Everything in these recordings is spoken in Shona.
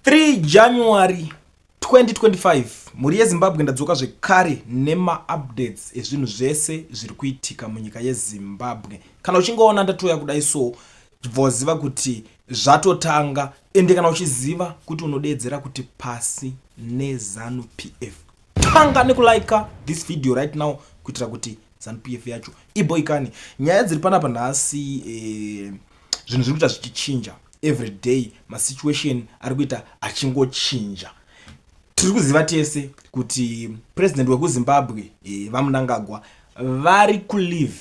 3 January 2025 mhuri yezimbabwe ndadzoka zvekare nemaupdates ezvinhu zvese zviri kuitika munyika yezimbabwe kana uchingoona ndatouya kudai so bvoziva kuti zvatotanga ende kana uchiziva kuti unodeedzera kuti pasi nezanu p f tanga nekulika this video right now kuitira kuti zanu p f yacho iboikani nyaya dziri panapa nhasi eh, zvinhu zviri kuita zvichichinja every day masituation ari kuita achingochinja tiri kuziva tese kuti president wekuzimbabwe e, vamunangagwa vari kulive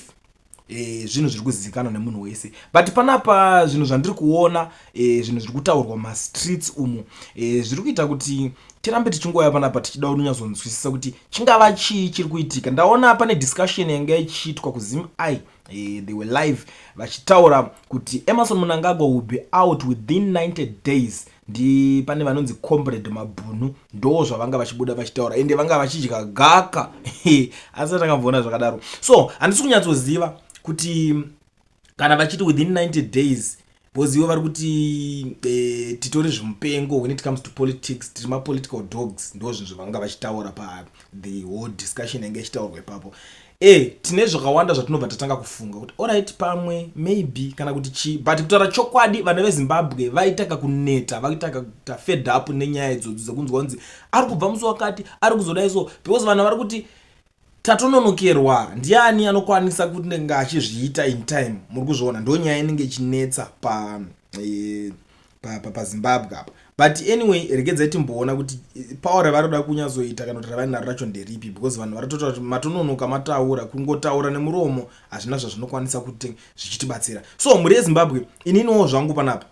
e, zvinhu zviri kuzivikanwa nemunhu wese but panapa zvinhu zvandiri kuona e, zvinhu zviri kutaurwa mastreets umu e, zviri kuita kuti tirambe tichingouya panapa tichida unonyazonzwisisa kuti chingava chii chiri kuitika ndaona pane discussion yanga ichiitwa kuzim i Eh, they were live vachitaura kuti emerson munangagwa will be out within 90 days ndi pane vanonzi combrade mabhunu ndo zvavanga vachibuda vachitaura ende vanga vachidya gaka asi atakambovona zvakadaro so handisi kunyatsoziva kuti kana vachiti within 90 days because ivo vari kuti eh, titore zvimupengo when it comes to politics tiri mapolitical dogs ndo zvinhu zvavanga vachitaura pa the whole discussion yange ichitaurwa ipapo e tine zvakawanda zvatinobva tatanga kufunga kuti orit pamwe maybe kana kuti chii but kutaura chokwadi vana vezimbabwe vaitaka kuneta vaitaka kuta fed up nenyaya idzodzo dzekunzwa kunzi ari kubva musi wakati ari kuzodai so because vanhu vari kuti tatononokerwa ndiani anokwanisa kunenge achizviita in time muri kuzviona ndo nyaya inenge ichinetsa pa e, pazimbabwe pa, pa apa but anyway regedzai timboona kuti eh, pawa ravari kuda kunyazoita kana kuti ravari naro racho nderipi because vanhu varitotaura kuti matononoka mataura kungotaura nemuromo hazvina zvazvinokwanisa kuti zvichitibatsira so mhuri yezimbabwe ininiwo zvangu panapa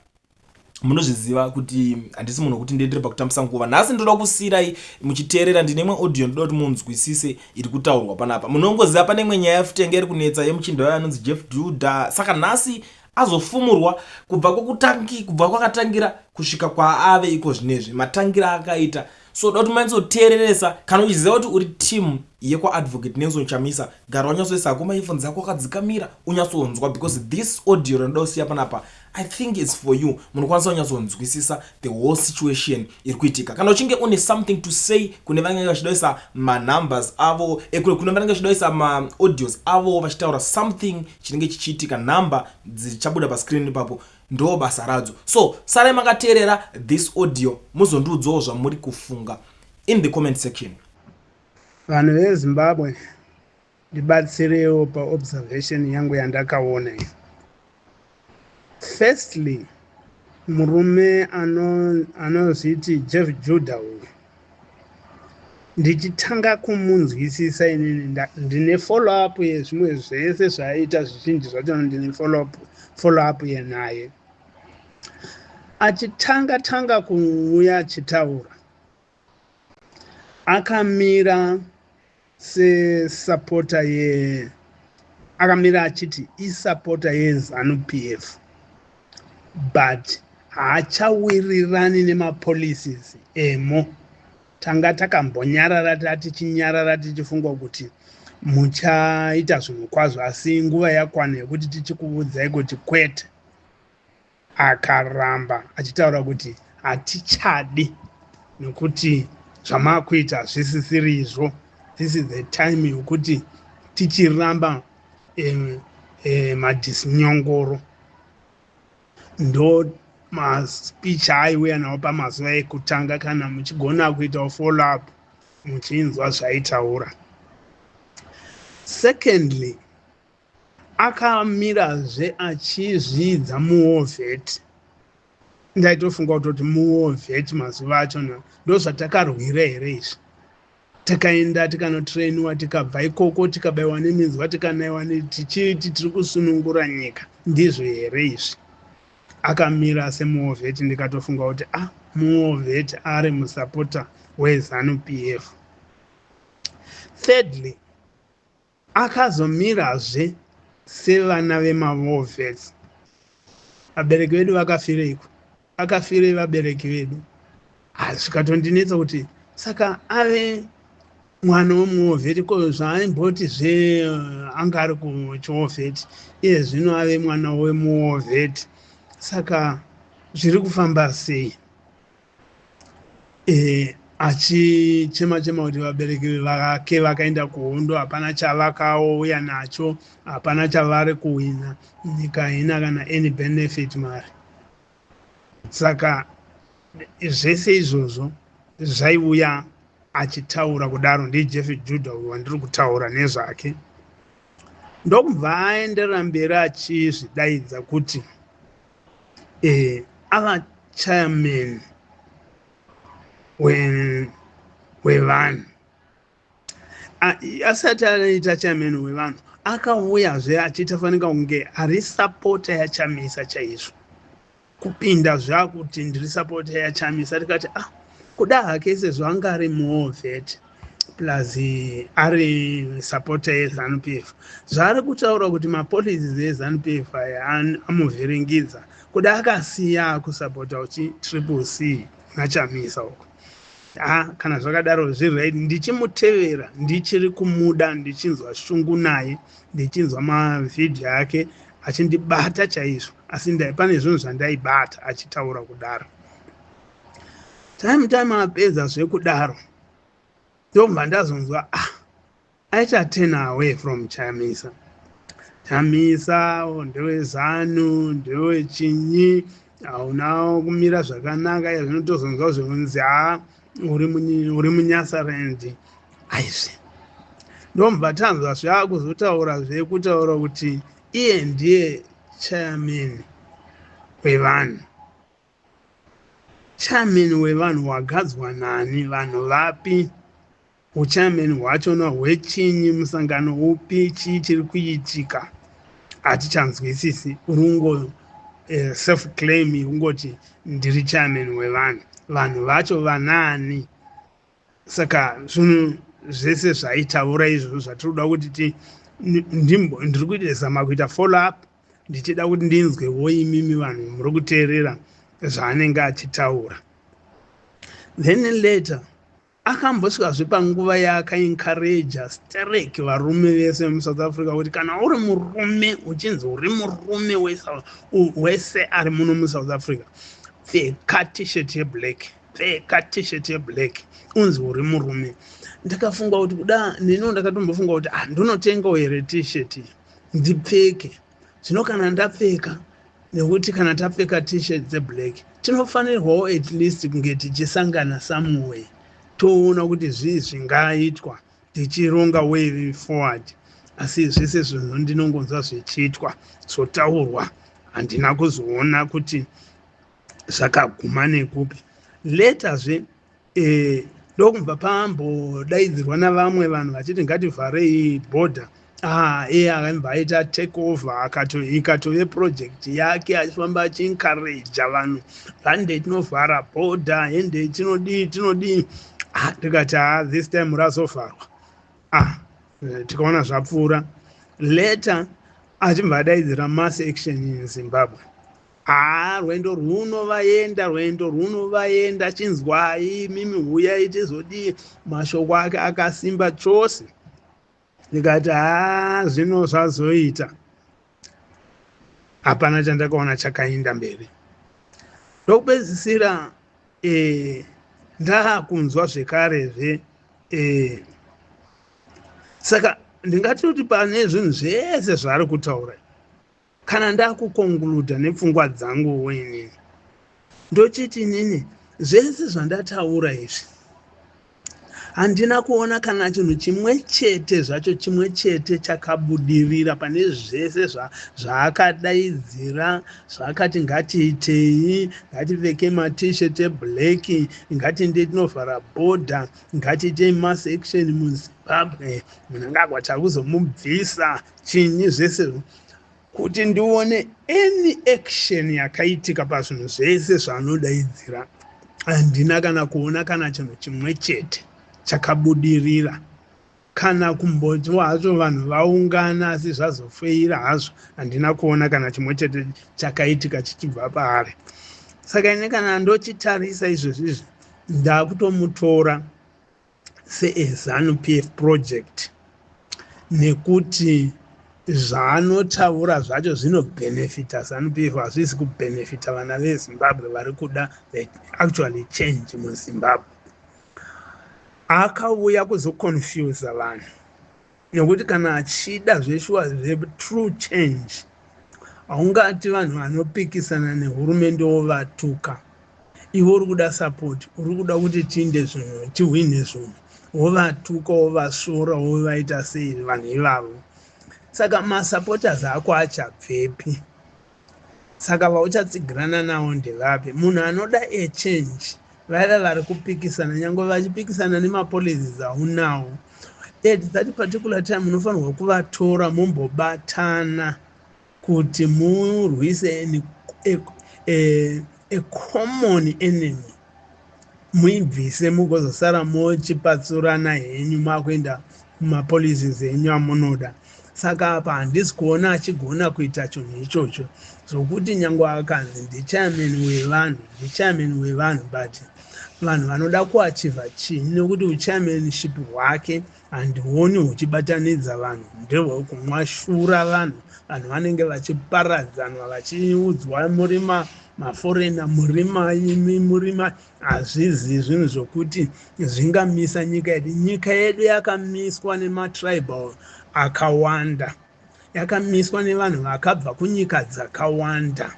munozviziva kuti handisi munhu wekuti ndiendere pakutambisa nguva nhasi ndoda kusiirai muchiteerera ndine imwe audio ndoda kuti munzwisise iri kutaurwa panapa munongoziva pane imwe nyaya yafutenge iri kunetsa yemuchinda wayo anonzi jeff duda saka nhasi azofumurwa kubva kwekutangi kubva kwakatangira kusvika kwaave iko zvinezvi matangira akaita so uda kuti manyatsoteereresa kana uchiziva kuti uri team yekwaadvocate nelson chamisa gara wanyatsoisa hako maefon dzako wakadzikamira unyatsonzwa because this audio rinoda kusiya panapa i think its for you munokwanisa kunyatsonzwisisa the whole situation iri kuitika kana uchinge une something to say kune vanenge vachidoisa manumbers avo eh, kune vanenge vachidoisa maaudios avo vachitaura something chinenge chichiitika number dzichabuda pascreen ipapo Ndoo basa radzo so sarai makateerera this audio muzondiudzawo zvamuri kufunga in the comment section. Vanhu veZimbabwe ndibatsirewo paobservation yangu yandakaona iyo. Firstly, murume anozviti Jeff Judah uyu ndichitanga kumunzwisisa inini ndine follow up yezvimwe zvese zvaiita zvizhinji zvacho ndine follow up follow up yenaye achitanga tanga kuuya achitaura akamira sesapota ye akamira achiti isapota yezanu p f but haachawirirani nemapolicies emo tanga takambonyarara tati chinyarara tichifungwa kuti muchaita zvinhu kwazvo asi nguva yakwana yekuti tichikuvudzai kuti kwete akaramba achitaura kuti hatichadi nokuti zvamakuita hazvisisirizvo this is the time yokuti tichiramba um, um, madisinyongoro ndo maspeech aiuya nawo pamazuva ekutanga kana muchigona kuitawo follow up muchinzwa zvaitaura secondly akamirazve achizviidza muovheti ndaitofunga kutoti muovheti mazuva acho na ndozvatakarwira here izvi takaenda tikanotrainiwa tikabva ikoko tikabaiwa neminzwa tikanaiwa tichiti tiri kusunungura nyika ndizvo here izvi akamira semuovheti ndikatofunga kuti a ah, muovheti ari musapota wezanu p f thirdly Akazomirazve sevana vemaWolves. Vabereki vedu vakafireiko? Vakafirei vabereki vedu? Ah, zvikatondinetsa kuti saka ave mwana wemuwovheti ko zvaaimboti zve eh, anga ari kuchiwovheti iye zvino ave mwana wemuwovheti saka zviri kufamba sei eh, achichema chema kuti vabereki vake vakaenda kuhondo hapana chavakaouya nacho hapana chavari kuhwina nyika haina kana any benefit mari saka zvese izvozvo zvaiuya achitaura kudaro ndijeff juda uyo wandiri kutaura nezvake ndokubva aenderera mberi achizvidaidza kuti eh, ava chairman wevanhu asati anoita chairman wevanhu akauyazve achiita fanika kunge ari sapota yachamisa chaizvo kupinda zvakuti ndiri sapota yachamisa tikati ah kuda hake sezvo anga ari muovet plus ari supporter yezanu p f zvaari kutaura kuti mapolicies ezanu p f aya amuvhiringidza kuti akasiya akusupporta uchi triple c machamisa uko ha kana zvakadaro zviri right ndichimutevera ndichiri kumuda ndichinzwa shungu naye ndichinzwa mavhidhiyo ake achindibata chaizvo asi pane zvinhu zvandaibata achitaura kudaro time time apedza zvekudaro ndobva ndazonzwa ah aita ten away from chamisa chamisa oh, ndewezanu ndewechinyi hauna kumira zvakanaka yazvinotozonzwa zvekunzi ha ah, uri munyasarendi aizve ndobva tanzwa zvaakuzotaura zvekutaura kuti iye ndiye chayameni wevanhu Chairman wevanhu wagadzwa nani vanhu vapi uchairman hwachona hwechinyi musangano upi chii chiri kuitika hatichanzwisisi urungo eh, self claim yekungoti ndiri chairman wevanhu vanhu vacho vanaani saka zvinhu zvese zvaitaura izvozvo zvatiri kuda kuti ti ndiri kuita zama kuita follow up ndichida kuti ndinzwe wo imimi vanhu muri kuteerera zvaanenge achitaura then later akambosvikazve panguva yaakaencouraja sterek varume vese vemusouth africa kuti kana uri murume uchinzi uri murume wese ari muno musouth africa pfeka t-shirt yeblack pfeka t-shirt yeblack unzi uri murume ndakafunga kuti kuda neniwo ndakatombofunga kuti handinotengawo ah, here t-shirt iyi ndipfeke zvino kana ndapfeka nekuti kana tapfeka t-shirt dzeblack tinofanirwawo at least kunge tichisangana somewhere toona kuti zvii zvingaitwa tichironga way forward asi zvese zvinhu ndinongonzwa zvichiitwa zvotaurwa handina kuzoona kuti zvakaguma nekupi letazve eh, ndokubva pambodaidzirwa navamwe vanhu vachiti ngativharei border ah, iye akabva aita take over ikatove project yake achifamba achiencouraja vanhu hande tinovhara border hende tinodii tinodii ah, tikati ah, this time razovharwa ah, eh, tikaona zvapfuura later achibva adaidzira mass action in zimbabwe Haa rwendo rwuno vaenda rwendo rwuno vaenda chinzwai mimi huyai tizodii mashoko ake akasimba chose ndikati haa zvino zvazoita hapana chandakaona chakainda mberi ndokupedzisira eh, ndaakunzwa zvekarezve eh, saka ndingatoti pane zvinhu zvese zvaari kutaura kana ndakukonguluda nepfungwa dzangu wenini ndochiti nini zvese zvandataura izvi handina kuona kana chinhu chimwe chete zvacho chimwe chete chakabudirira pane zvese zvaakadaidzira zvaakati ngatiitei ngativeke matishet eblack ngatiindei tinovhara bhodha ngatiitei mass action muzimbabwe munangagwa takuzomubvisa chinyi zvese kuti ndione any action yakaitika pazvinhu zvese zvaanodaidzira handina kana kuona kana chinhu chimwe chete chakabudirira kana kumbotiwa hazvo vanhu vaungana asi zvazofeira hazvo handina kuona kana chimwe chete chakaitika chichibva paari saka ine kana ndochitarisa izvozvizvi ndakutomutora seezanu pf project nekuti zvaanotaura zvacho zvinobhenefita zanupf hazvisi kubhenefita vana vezimbabwe vari kuda actually change muzimbabwe akauya kuzoconfusa vanhu nekuti kana achida zveshuwa zvetrue change haungati vanhu vanopikisana nehurumende wovatuka ivo uri kuda sapoti uri kuda kuti tiinde zvinhu tihwine zvinhu wovatuka wovasvora wovaita sei vanhu ivavo saka masupporters ako achabvepi Saka vauchatsigirana nawo ndevapi? Munhu anoda a change vaiva vari kupikisana nyange vachipikisana nemapolicies aunawo at that particular time munofanirwa kuvatora mombobatana kuti murwise a, a, a common enemy muibvise mugozosara mochipatsurana henyu makuenda kumapolices enyu amunoda saka apa handisi kuona achigona kuita chinhu ichocho zvokuti nyange akanzi ndichairman wevanhu ndichairman wevanhu but vanhu vanoda kuachiva chii nekuti uchairmanship hwake Handioni huchibatanidza vanhu ndehwekumwashura vanhu vanhu vanenge vachiparadzanwa vachiudzwa murima maforena murima imi murima hazvizi zvinhu zvokuti zvingamisa nyika yedu nyika yedu yakamiswa nematribal akawanda yakamiswa nevanhu vakabva kunyika dzakawanda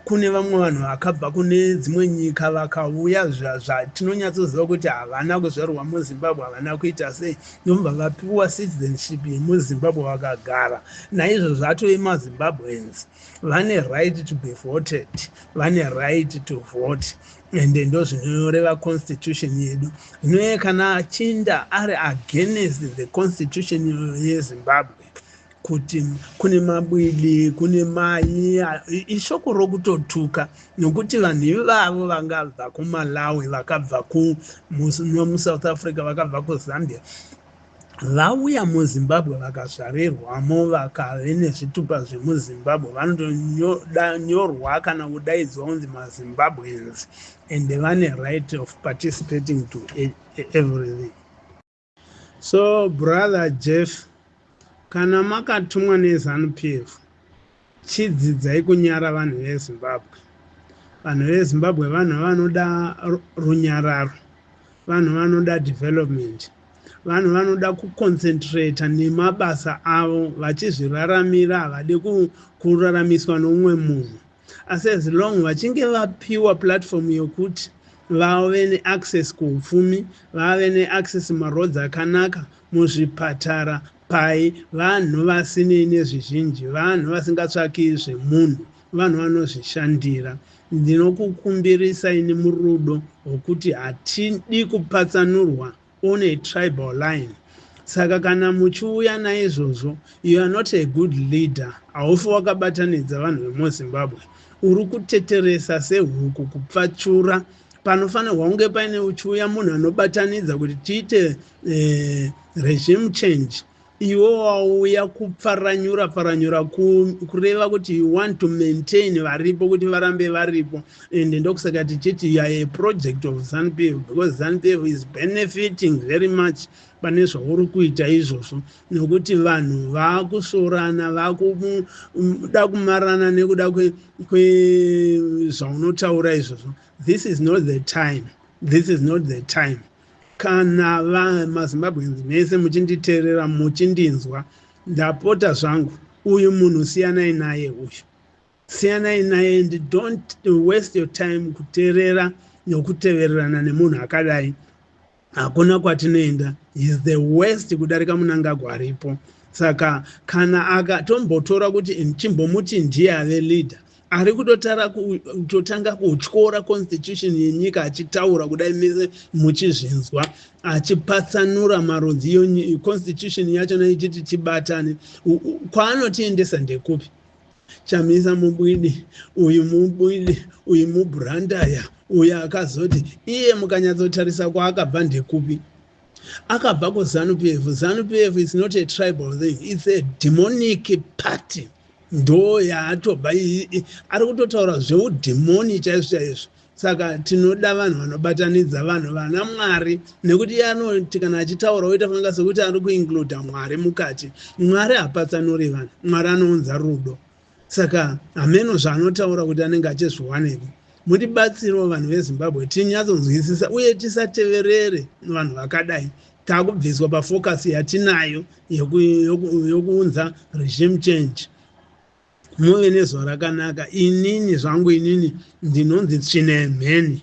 kune vamwe vanhu vakabva kune dzimwe nyika vakauya zvatinonyatsoziva kuti havana kuzvarwa muzimbabwe havana kuita sei ndobva vapiwa citizenship yemuzimbabwe vakagara naizvo zvatove mazimbabweans vane right to be voted vane right to vote ende ndozvinoreva constitution yedu zvinoye kana achinda ari against the constitution yezimbabwe kuti kune mabwidi kune mai ishoko rokutotuka nokuti vanhu ivavo vangabva kumalawi vakabva kumusouth africa vakabva kuzambia vauya muzimbabwe vakazvarirwamo vakave nezvitupa zvemuzimbabwe vanotonyorwa kana kudaidzwa kunzi mazimbabweans and vane right of participating to e, e, everything so brother jeff kana makatumwa nezanu pf Chidzidzai kunyara vanhu veZimbabwe. Vanhu veZimbabwe vanhu vanoda runyararo. Vanhu vanoda development. Vanhu vanoda kuconcentrata nemabasa avo vachizviraramira havadi kuraramiswa noumwe munhu. Asi as long vachinge vapiwa platform yokuti vave neaccess kuupfumi vave neaccess maroads akanaka muzvipatara Pai vanhu vasinei nezvizhinji, vanhu vasingatsvaki zvemunhu, vanhu vanozvishandira. Ndinokukumbirisa ini murudo rwokuti hatidi kupatsanurwa on a tribal line. Saka kana muchiuya naizvozvo, you are not a good leader, haufi wakabatanidza vanhu vemuZimbabwe. Uri kuteteresa sehuku kupfachura. Panofanirwa kunge paine uchiuya munhu anobatanidza kuti tiite eh, regime change iwe wauya kupfaranyura pfaranyura kureva kuti you want to maintain varipo kuti varambe varipo and ndokusaka tichiti youare a project of zanupf because zanupf is benefiting very much pane zvauri kuita izvozvo nokuti vanhu vaakusorana vakuda kumarana nekuda kwezvaunotaura izvozvo this is not the time this is not the time Kana maZimbabweans mese muchinditeerera muchindinzwa ndapota zvangu uyu munhu siyanai naye uyu siyanai naye and don't waste your time kuteerera nokutevererana nemunhu akadai hakuna kwatinoenda is the worst kudarika munangagwa aripo saka kana akatombotora kuti chimbomuti ndiye ave leader ari kutotara kutotanga kutyora constitution yenyika achitaura kudai mese muchizvinzwa achipatsanura marudzi constitution yacho naichiti tibatane kwaanotiendesa ndekupi chamisa mubwidi uyu mubwidi uyu mubrandaya uyu akazoti iye mukanyatsotarisa kwaakabva ndekupi akabva kuzanu pf zanu pf is not a tribal thing its a demonic party ndo yaatobva ari kutotaura zveudhimoni chaizvo chaizvo saka tinoda vanhu vanobatanidza vanhu vana mwari nekuti iye anoti kana achitaura oita fanga sekuti ari kuincluda mwari mukati mwari hapatsanuri vanhu mwari anounza rudo Saka hameno zvaanotaura kuti anenge achizviwanepi. Mutibatsirewo vanhu veZimbabwe tinyatsonzwisisa uye tisateverere vanhu vakadai. Takubviswa pafocus yatinayo yokuunza regime change. Muve nezuva rakanaka. Inini zvangu inini ndinonzi tsvine mheni.